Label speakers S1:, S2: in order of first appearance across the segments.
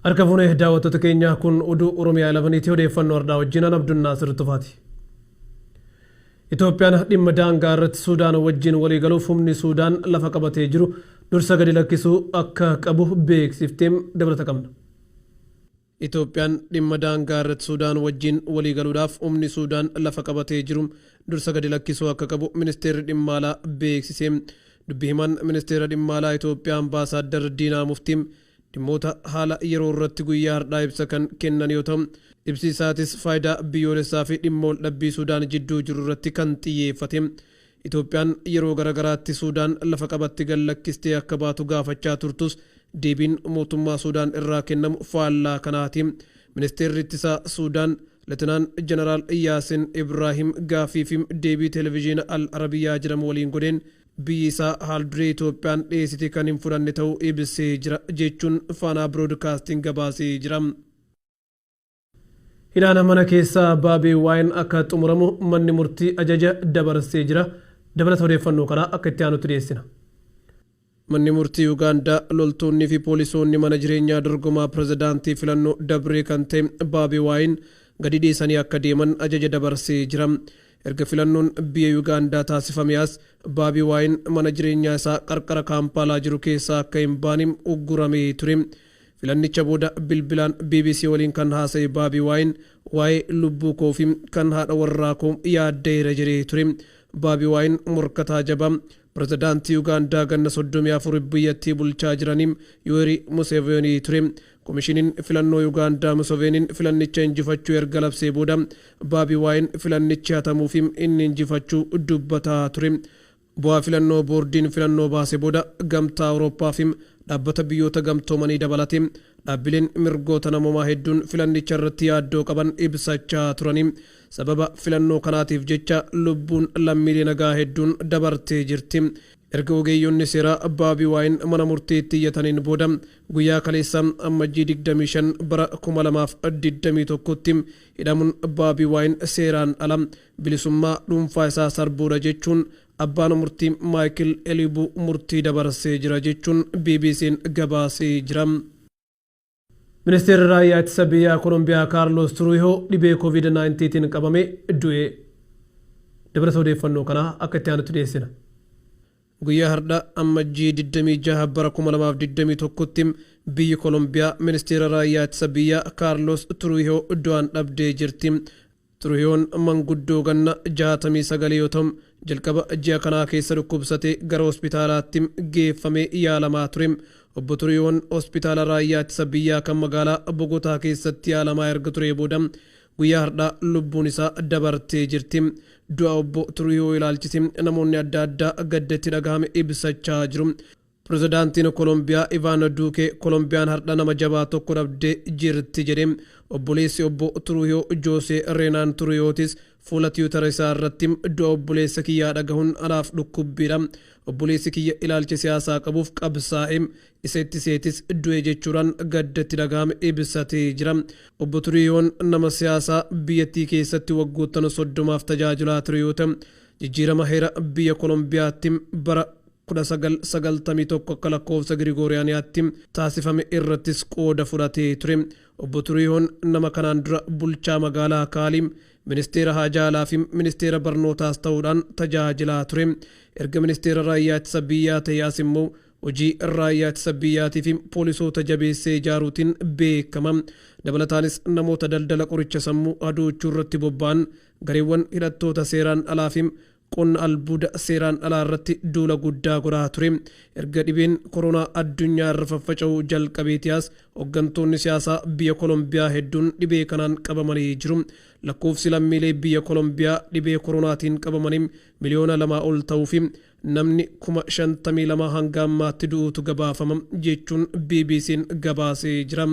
S1: Harka fuune daawwattoota keenyaa kun oduu Oromiyaa 11ti odeeffannoo har'aa wajjin an Abdunnaasir Tufaati. Itoophiyaan dhimma daangaa irratti Suudaan wajjin waliigaluuf humni Suudaan lafa qabatee jiru dursa gadi lakkisuu akka qabu beeksifteem dabalata qabna. Itoophiyaan dhimma daangaa irratti Suudaan wajjin waliigaluudhaaf humni Suudaan lafa qabatee jiru dursa gadi lakkisuu akka qabu Ministeerri Dhimma Alaa beeksise. Dubbi himaan Ministeera Dhimma Alaa Itoophiyaa Ambaasaaddar Diinaa Muftii dhimmoota haala yeroo irratti guyyaa hardhaa ibsa kan kennan yoo ta'u, ibsi isaatis faayidaa biyyoolessaa fi dhimma waldhabbii Suudaan jidduu jiru irratti kan xiyyeeffate. Itoophiyaan yeroo gara garaatti Suudaan lafa qabatti gad lakkistee akka baatu gaafachaa turtus deebiin mootummaa Suudaan irraa kennamu faallaa kanaati. Ministeerri Ittisaa Suudaan Letenaan Janaraal Yaasin Ibraahim gaaffii fi deebii Televizhiina Al Arabiyaa jedhamu waliin godheen biyyi isaa haalduree Itoophiyaan dhiyeessite kan hin fudhanne ta'uu ibsee jira jechuun Faanaa Biroodkaastiing gabaasee jira. Hidhaan mana keessaa Baabii Waayin akka xumuramu manni murtii ajaja dabarsee jira. Dabalata odeeffannoo kanaa akka itti aanutti dhiyeessina. Manni murtii Ugaandaa loltoonnii fi poolisoonni mana jireenyaa dorgomaa pirezidaantii filannoo dabree kan ta'e Baabii Waayin gadi dhiisanii akka deeman ajaja dabarsee jira. Erga filannoon biyya Ugaandaa taasifamee as Baabii Waayin mana jireenyaa isaa qarqara Kaampaalaa jiru keessaa akka hin baane ugguramee ture. Filannicha booda bilbilaan bbc waliin kan haasa'e Baabii Waayin waa'ee lubbuu koo fi kan haadha warraa koo yaadda'eera jedhee ture. Baabii Waayin morkataa jabaa Pirezidaantii Ugaandaa ganna 34f biyyattii bulchaa jiranii Yuwerii Museveenii ture. Komishiniin filannoo Ugaandaa Museveeniin filannicha injifachuu erga labsee booda Baabii Waayin filannichi hatamuu fi inni injifachuu dubbataa ture. Bu'aa filannoo boordiin filannoo baase booda Gamtaa Awurooppaa fi Dhaabbata Biyyoota Gamtoomanii dabalatee dhaabbileen mirgoota namoomaa hedduun filannicha irratti yaaddoo qaban ibsachaa turanii sababa filannoo kanaatiif jecha lubbuun lammiilee nagaa hedduun dabartee jirti. Erga ogeeyyonni seeraa Baabi Waayin mana murtiitti iyyataniin booda guyyaa kaleessaa Ammajjii 25 bara 2021tti hidhamuun Baabi Waayin seeraan ala bilisummaa dhuunfaa isaa sarbuudha jechuun abbaan murtii Maayikil Eliibuu murtii dabarsee jira jechuun BBC'n gabaasee jira. Ministeerri Raayyaa Ittisa Biyyaa Kolombiyaa Kaarloos Turuuyihoo dhibee Covid 19 tiin qabamee du'e. Dabalata odeeffannoo kanaa akka itti aanutti dhiyeessina. Guyyaa hardha Ammajjii 26 bara 2021tti biyyi Kolombiyaa Ministeera Raayyaa Ittisa Biyyaa Kaarloos Turuuyihoo du'aan dhabdee jirti. Tiruhiyoon manguddoo ganna 69 yoo ta'u, jalqaba ji'a kanaa keessa dhukkubsatee gara hospitaalaatti geeffamee yaalamaa ture. Obbo Tiruhiyoon Hospitaala Raayyaa Ittisa Biyyaa kan magaalaa Bogotaa keessatti yaalamaa erga turee booda guyyaa hardhaa lubbuun isaa dabartee jirti. Du'a Obbo Tiruhiyoo ilaalchisee namoonni adda addaa gadda itti dhagahame ibsachaa jiru. Pirezidaantiin Kolombiyaa Ivaan Duukee Kolombiyaan hardha nama jabaa tokko dhabdee jirti jedhe. Obboleessi obbo Turuuyoo Joosee Reenaan Turuuyootis fuula tiwutara isaa irratti du'a obboleessa kiyyaa dhagahun anaaf dhukkubbiidha. Obboleessi kiyya ilaalcha siyaasaa qabuuf qabsaa'e. Isa itti seetis du'e jechuudhaan gadda itti dhagahame ibsatee jira. Obbo Turuuyoon nama siyaasaa biyyattii keessatti waggoottana soddomaaf tajaajilaa ture yoo ta'u, jijjiirama heera biyya Kolombiyaatti bara 19, 91 akka lakkoofsa Girigooriyaaniyaatti, taasifame irrattis qooda fudhatee ture. Obbo Turiihoon nama kanaan dura bulchaa magaalaa Kaalii, ministeera haajaa alaa fi ministeera barnootaas ta'uudhaan tajaajilaa ture. Erga ministeera raayyaa ittisa biyyaa ta'ee as immoo hojii raayyaa ittisa biyyaatii fi poolisoota jabeessee ijaaruutiin beekama. Dabalataanis namoota daldala qoricha sammuu hadoochuu irratti bobba'an, gareewwan hidhattoota seeraan alaa fi qonna albuuda seeraan alaa irratti duula guddaa godhaa ture. Erga dhibeen koronaa addunyaa irra faffaca'uu jalqabeetii as hoggantoonni siyaasaa biyya Kolombiyaa hedduun dhibee kanaan qabamanii jiru. Lakkoofsi lammiilee biyya Kolombiyaa dhibee koronaatiin qabamanii miliyoona lamaa ol ta'uu fi namni kuma shantamii lama hanga ammaatti du'uutu gabaafama jechuun BBC'n gabaasee jira.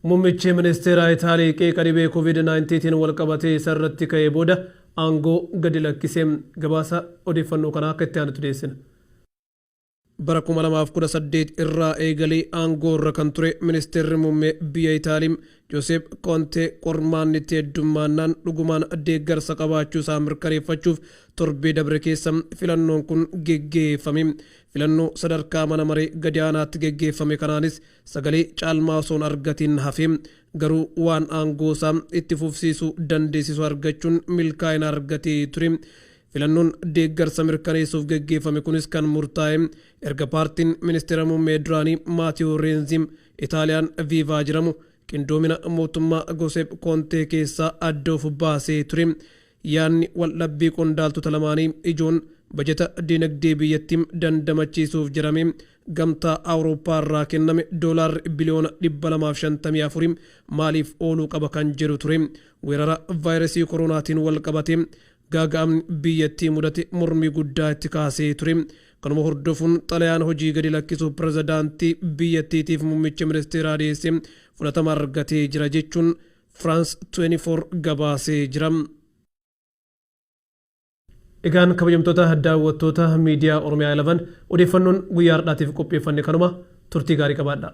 S1: Mummichi ministeeraa Itaalii qeeqa dhibee Covid 19 tiin wal qabatee isa irratti ka'ee booda aangoo gadi lakkise. Gabaasa odeeffannoo kanaa akka itti aanutti dhiyeessina. Bara 2018 irraa eegalee aangoo irra kan ture ministeerri muummee biyya Itaalii Joseep Koontee qormaanni itti heddummaannaan dhugumaan deeggarsa qabaachuu isaa mirkaneeffachuuf torbee dabre keessa filannoon kun geggeeffame. Filannoo sadarkaa mana maree gadi aanaatti geggeeffame kanaanis Sagalee caalmaa osoo hin argatiin hafe, garuu waan aangoo isaa itti fufsiisu dandeessisu argachuun milkaa'ina argatee ture. Filannoon deeggarsa mirkaneessuuf geggeeffame kunis kan murtaa'e erga paartiin ministeera muummee duraanii Maatiyoo Reenzi, Itaaliyaan Viivaa jedhamu, qindoomina mootummaa Goseep Koontee keessaa adda of baasee ture. Yaadni waldhabbii qondaaltota lamaanii ijoon bajata dinagdee biyyattii dandamachiisuuf jedhamee Gamtaa Awurooppaa irraa kenname doolaarri biliyoona 254 maaliif ooluu qaba kan jedhu ture. Weerara vaayirasii koroonaatiin walqabatee gaaga'amni biyyattii mudate mormii guddaa itti kaasee ture. Kanuma hordofuun xalayaan hojii gadi lakkisuu pirezidaantii biyyattiitiif muummicha ministeeraa dhiyeesse fudhatama argatee jira jechuun France 24 gabaasee jira. Egaan kabajamtoota daawwattoota Miidiyaa Oromiyaa 11 odeeffannoon guyyaa hardhaatiif qopheeffanne kanuma turtii gaarii qabaadhaa.